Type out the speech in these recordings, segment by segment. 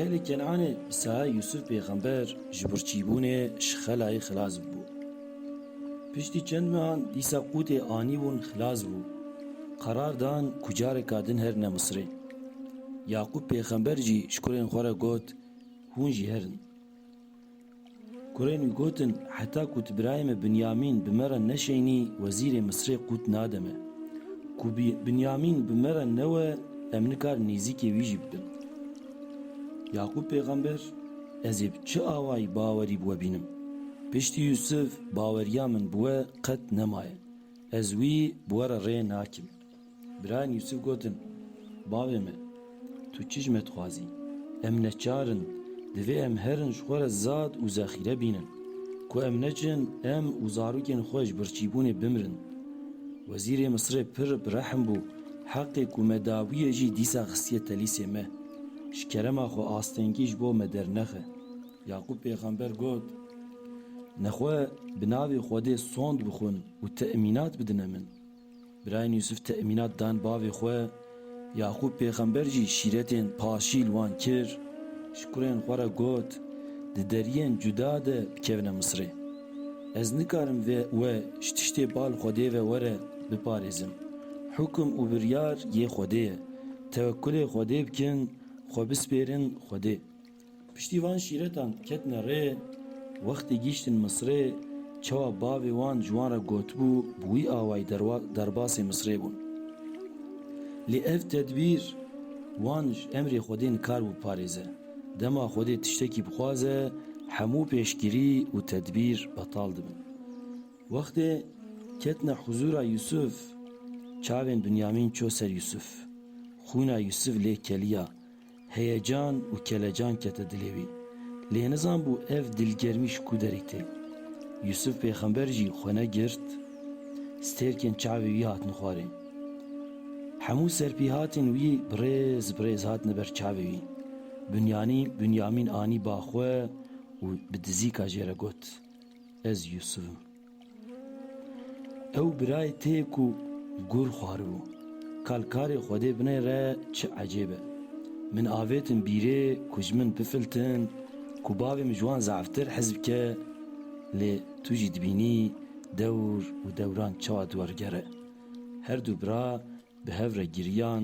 Ehlê Kenanê bi saê Yûsûf pêxember ji birçîbûnê ji xelayê xilas bû. Piştî çend mehan dîsa qûtê anîbûn xilas bû. Qerar dan ku careka din herine Misirê. Yaqûb pêxember jî ji kurên xwe re got, Hûn jî herin. Kurên wî gotin, Heta ku tu birayê me Binyamîn bi me re neşeynî wezîrê Misirê qût nade me. Ku Binyamîn bi me re newe em nikar nêzîkê wî jî bibin. Yaqûb pêxember, Ez ê bi çi awayî bawerî bi we bînim? Piştî Yûsif baweriya min bi we qet nemaye. Ez wî bi we re rê nakim. Birayên Yûsûf gotin, Bavê me, tu çijme dixwazî? Em neçar in, divê em herin ji xwe re zad û zexîre bînin. Ku em neçin, em û zarokên xwe ji birçîbûnê bimirin. Wezîrê Misirê pir bi rehm bû, heqê ku me dabûye jî dîsa xistiye telîsê me. Ji kerema xwe astengî ji bo me dernexe. Yaqûb pêxember got, Nexwe bi navê Xwedê sond bixwin û temînat bidine min. Birayên Yûsûf temînat dan bavê xwe, Yaqûb pêxember jî şîretên paşî li wan kir, ji kurên xwe re got, Di deriyên cuda de bikevine Misirê. Ez nikarim vê we ji tiştê bal Xwedê ve were biparêzim. Hûkim û biryar yê Xwedê ye. Tewekkulê Xwedê bikin, xwe bispêrin Xwedê. Piştî van şîretan ketine rê, wextê gîştin Misrê, çawa bavê wan ji wan re gotibû bi wî awayî derbasê Misrê bûn. Lê ev tedbîr wan ji emrê Xwedê nikar bû biparêze. Dema Xwedê tiştekî bixwaze, hemû pêşgirî û tedbîr betal dibin. Wextê ketine huzûra Yûsûf, çavên Binyamîn çû ser Yûsûf. Xwîna Yûsûf lê keliya. Heyecan û kelecan kete dilê wî. Lê nizanbû ev dilgermî ji ku derê tê. Yûsûf pêxember jî xwe ne girt. Stêrkên çavê wî hatin xwarê. Hemû serpêhatên wî bi rêz bi rêz hatine ber çavê wî. Bunyanî Bunyamîn anî ba xwe û bi dizîka jê re got, Ez Yûsûf im. Ew birayê te ye ku gur xwaribû. Kal karê Xwedê binê re çi ecêb e. Min avêtin bîrê ku ji min bifiltin ku bavê min ji wan zaftir hez bike lê tu jî dibînî dewr û dewran çawa dû wergere. Her du bira bi hev re giriyan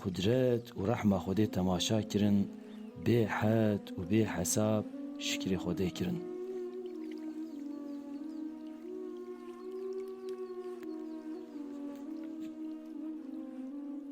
Qudret û rehma Xwedê temaşa kirin, bê hed û bê hesab şikrê Xwedê kirin.